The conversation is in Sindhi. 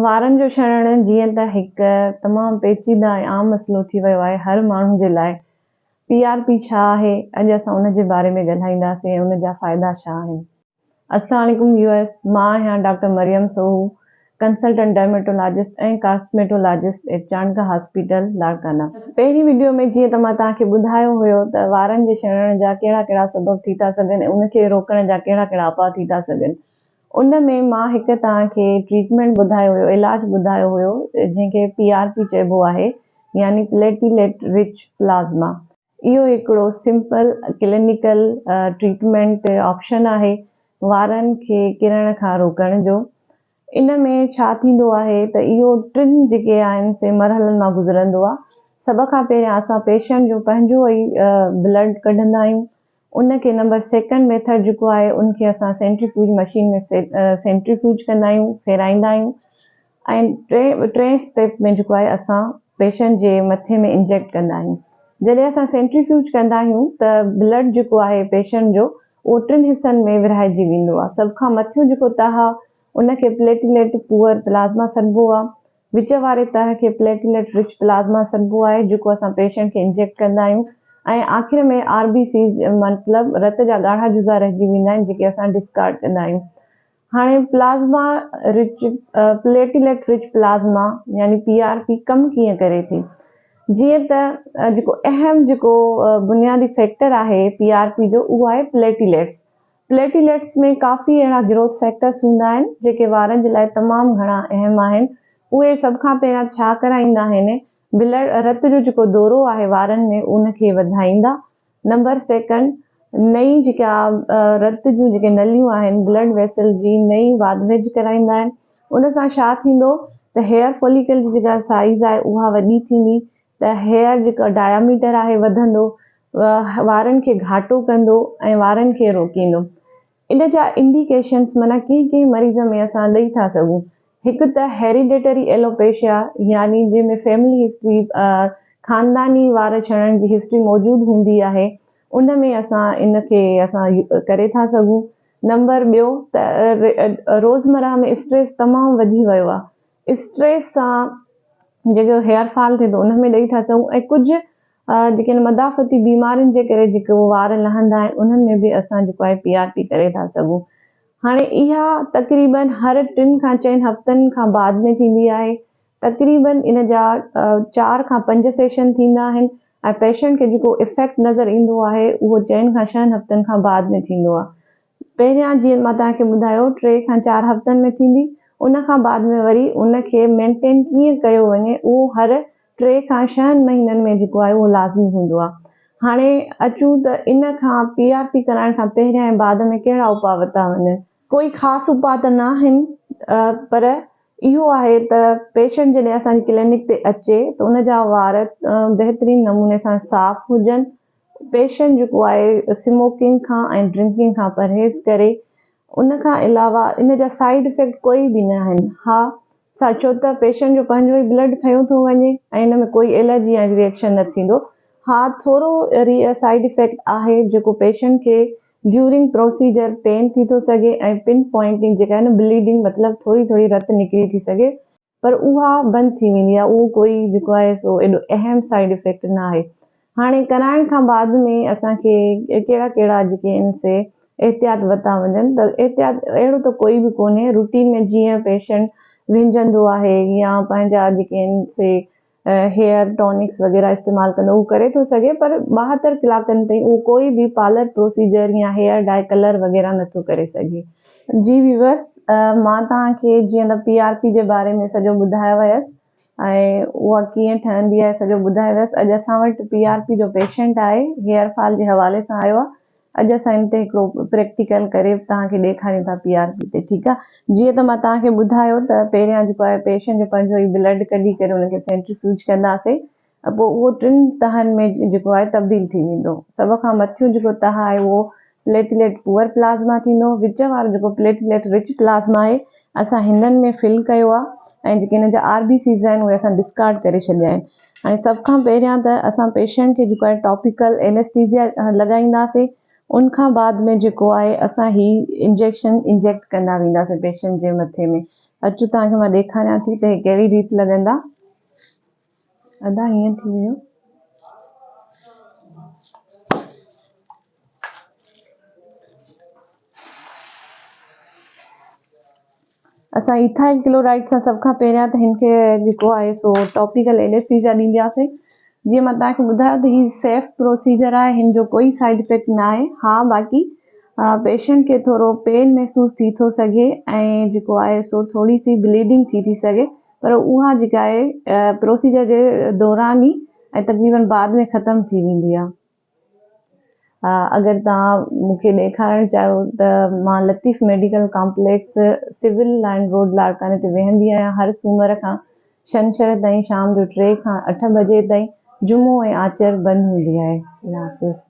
وارن جو شڻڻ جيئن ته هڪ تمام پيچيده ۽ عام مسئلو ٿي ويو آهي هر ماڻهو جي لاء. پي آر پي ڇا آهي؟ اڄ اسان ان جي باري ۾ ڳالهائينداسين ۽ ان جا فائدا ڇا آهن. السلام عليڪم ويوئرس مان آهيان doctor Maryam Soho consultant dermatologist ۽ cosmetologist at Chandka hospital Larkana. پهرين وڊيو ۾ جيئن ته مان توهان کي ٻڌايو هيو ته وارن جي شڻڻ جا ڪهڙا ڪهڙا سبب ٿي ٿا سگهن ۽ ان کي روڪڻ جا ڪهڙا ڪهڙا اپاء ٿي ٿا سگهن. ان ۾ مان هڪ توهان کي ٽريٽمينٽ ٻڌايو هيو، علاج ٻڌايو هيو، جنهن کي پي آر پي چئبو آهي يعني پليٽيليٽ رچ پلازما. اهو هڪڙو سمپل ڪلينيڪل ٽريٽمينٽ آپشن آهي وارن کي ڪرڻ کان روڪڻ جو. ان ۾ ڇا ٿيندو آهي ته اهو ٽن جيڪي آهن سي مرحلن مان گذرندو آهي. سڀ کان پهريان اسان پيشنٽ جو پنهنجو ئي بلڊ ڪڍندا آهيون ان کي نمبر سيڪنڊ ميٿڊ جيڪو آهي ان کي اسان سينٽريفيوج مشين ۾ سينٽريفيوج ڪندا آهيون ڦيرائيندا آهيون ۽ ٽين ٽين اسٽيپ ۾ جيڪو آهي اسان پيشنٽ جي مٿي ۾ انجيڪٽ ڪندا آهيون جڏهن اسان سينٽريفيوج ڪندا آهيون ته بلڊ جيڪو آهي پيشنٽ جو اهو ٽن حصن ۾ ورهائجي ويندو آهي سڀ کان مٿيون جيڪو تهه آهي ان کي پليٽيليٽ پوئر پلازما سڏبو آهي وچ واري تهه کي پليٽليٽ رچ پلازما سڏبو آهي جيڪو اسان پيشنٽ کي انجيڪٽ ڪندا آهيون ۽ آخر ۾ آر بي سيز مطلب رت جا ڳاڙها جزا رهجي ويندا آهن جيڪي اسان ڊسڪارڊ ڪندا آهيون هاڻي plasma rich platelet rich plasma يعني پي آر پي ڪم ڪيئن ڪري ٿي جيئن ته جيڪو اهم جيڪو بنيادي فيڪٽر آهي پي آر پي جو اهو آهي پليٽليٽس پليٽيليٽس ۾ ڪافي اهڙا گروٿ فيڪٽرس هوندا آهن جيڪي وارن جي لاء تمام گهڻا اهم آهن اهي سڀ کان پهريان ڇا ڪرائيندا آهن بلڊ رت جو جيڪو دورو آهي وارن ۾ ان کي وڌائيندا نمبر سيڪنڊ نئين جيڪا رت جون جيڪي نليون آهن بلڊ ويسل جي نئين واڌويجهه ڪرائيندا آهن ان سان ڇا ٿيندو ته هيئر فوليڪل جي جيڪا سائيز آهي اها وڏي ٿيندي ته هيئر جيڪا ڊائميٽر آهي وڌندو وارن کي گهاٽو ڪندو ۽ وارن کي روڪيندو ان جا انڊيڪيشنس معنيٰ ڪنهن ڪنهن مريض ۾ اسان ڏئي ٿا سگهون هڪ ته هيريڊيٽري ايلوپيشيا يعني جنهن ۾ فيملي هسٽري خانداني وار ڇڻڻ جي هسٽري موجود هوندي آهي ان ۾ اسان ان کي اسان ڪري ٿا سگهون نمبر ٻيو ته روزمرهه ۾ اسٽريس تمام وڌي ويو آهي اسٽريس سان جيڪو هيئر فال ٿئي ٿو ان ۾ ڏئي ٿا سگهون ۽ ڪجهه جيڪي آهن مدافعتي بيمارين جي ڪري جيڪي اهي وار لهندا آهن انهن ۾ به اسان جيڪو آهي پي آر پي ڪري ٿا سگهون هاڻي اها تقريبن هر ٽن کان چئن هفتن کان بعد ۾ ٿيندي آهي تقريبن ان جا چار کان پنج سيشن ٿيندا آهن ۽ پيشنٽ کي جيڪو افيڪٽ نظر ايندو آهي اهو چئن کان ڇهن هفتن کان بعد ۾ ٿيندو آهي پهريان جيئن مان توهان کي ٻڌايو ٽي کان چار هفتن ۾ ٿيندي ان کان بعد ۾ وري ان کي مينٽين ڪيئن ڪيو وڃي اهو هر ٽي کان ڇهن مهينن ۾ جيڪو آهي اهو لازمي هوندو آهي هاڻي اچون ته ان کان پي آر پي ڪرائڻ کان پهريان ۽ بعد ۾ ڪهڙا اپاء ورتا وڃن. ڪوئي خاص اپاء ته ناهن پر اهو آهي ته پيشنٽ جڏهن اسان جي ڪلينڪ تي اچي ته ان جا وار بهترين نموني سان صاف هجن پيشنٽ جيڪو آهي اسموڪنگ کان ۽ ڊرنڪنگ کان پرهيز ڪري ان کان علاوه ان جا سائيڊ افيڪٽ ڪوئي به نه آهن ها سا ڇو ته پيشنٽ جو پنهنجو ئي بلڊ کنيو ٿو وڃي ۽ ان ۾ ڪوئي الرجي يا ري ايڪشن نه ٿيندو ها ٿورو ري سائيڊ افيڪٽ آهي جيڪو پيشنٽ کي ڊيورنگ پروسيجر پين ٿي ٿو سگهي ۽ پن پوائنٽنگ جيڪا آهي نه بليڊنگ مطلب ٿوري ٿوري رت نڪري ٿي سگهي پر اها بند ٿي ويندي آهي اهو ڪوئي جيڪو آهي سو ايڏو اهم سائيڊ افيڪٽ نه آهي هاڻي ڪرائڻ کان بعد ۾ اسان کي ڪهڙا ڪهڙا جيڪي ان سي احتياط ورتا وڃن ته احتياط اهڙو ته ڪوئي به ڪونهي روٽين ۾ جيئن پيشنٽ وهنجندو آهي يا پنهنجا جيڪي ان سي هيئر ٽونڪس وغيره استعمال ڪندو هو ڪري ٿو سگهي پر ٻاهتر ڪلاڪن تائين اهو ڪوئي به پارلر پروسيجر يا هيئر ڊائي ڪلر وغيره نه ٿو ڪري سگهي. جي ويورس مان توهان کي جيئن ته پي آر پي جي باري ۾ سڄو ٻڌايو هيس ۽ اها ڪيئن ٺهندي آهي سڄو ٻڌايو هيس اڄ اسان وٽ پي آر پي جو پيشنٽ آهي هيئر فال جي حوالي سان آيو آهي اڄ اسان ان تي هڪڙو پريڪٽيڪل ڪري توهان کي ڏيکاريون ٿا پي آر پي تي ٺيڪ آ جيئن ته مان توهان کي ٻڌايو ته پهريان جيڪو آهي پيشنٽ جو پنهنجو ئي بلڊ ڪڍي ڪري ان کي سينٽريفيوج ڪنداسي پوء اهو ٽن تهن ۾ جيڪو آهي تبديل ٿي ويندو سڀ کان مٿيون جيڪو تهه آهي اهو پليٽليٽ پوئر پلازما ٿيندو وچ وارو جيڪو پليٽليٽ رچ پلازما آهي اسان هنن ۾ فل ڪيو آ ۽ جيڪي هن جا آر بي سيز آهن اهي اسان ڊسڪارڊ ڪري ڇڏيا آهن ۽ سڀ کان پهريان ته اسان پيشنٽ کي جيڪو آهي ٽاپيڪل اينيسٽيزيا لڳائينداسين ان کان بعد ۾ جيڪو آهي اسان هي انجيڪشن انجيڪٽ ڪندا وينداسين پيشنٽ جي مٿي ۾ اچو توهان کي مان ڏيکاريان ٿي ته هي ڪهڙي ريت لڳندا ادا هيئن ٿي ويو اسان ايٿائل ڪلورائيڊ سان سڀ کان پهريان ته هن کي جيڪو آهي سو ٽاپيڪل اينيسٿيزيا ڏيندياسين جيئن مان توهان کي ٻڌايو ته هي سيف پروسيجر آهي هن جو ڪوئي سائيڊ افيڪٽ نه آهي ها باقي پيشنٽ کي ٿورو پين محسوس ٿي ٿو سگهي ۽ جيڪو آهي سو ٿوري سي بليڊنگ ٿي ٿي سگهي پر اها جيڪا آهي پروسيجر جي دوران ئي ۽ تقريبن بعد ۾ ختم ٿي ويندي آهي اگر توهان مون کي ڏيکارڻ چاهيو ته مان Latif medical complex civil line road لاڙڪاڻي تي ويهندي آهيان هر سومر کان شنڇر تائين شام جو ٽي کان اٺ بجي تائين جمعو ۽ آچر بند هوندي آهي. الله حافظ.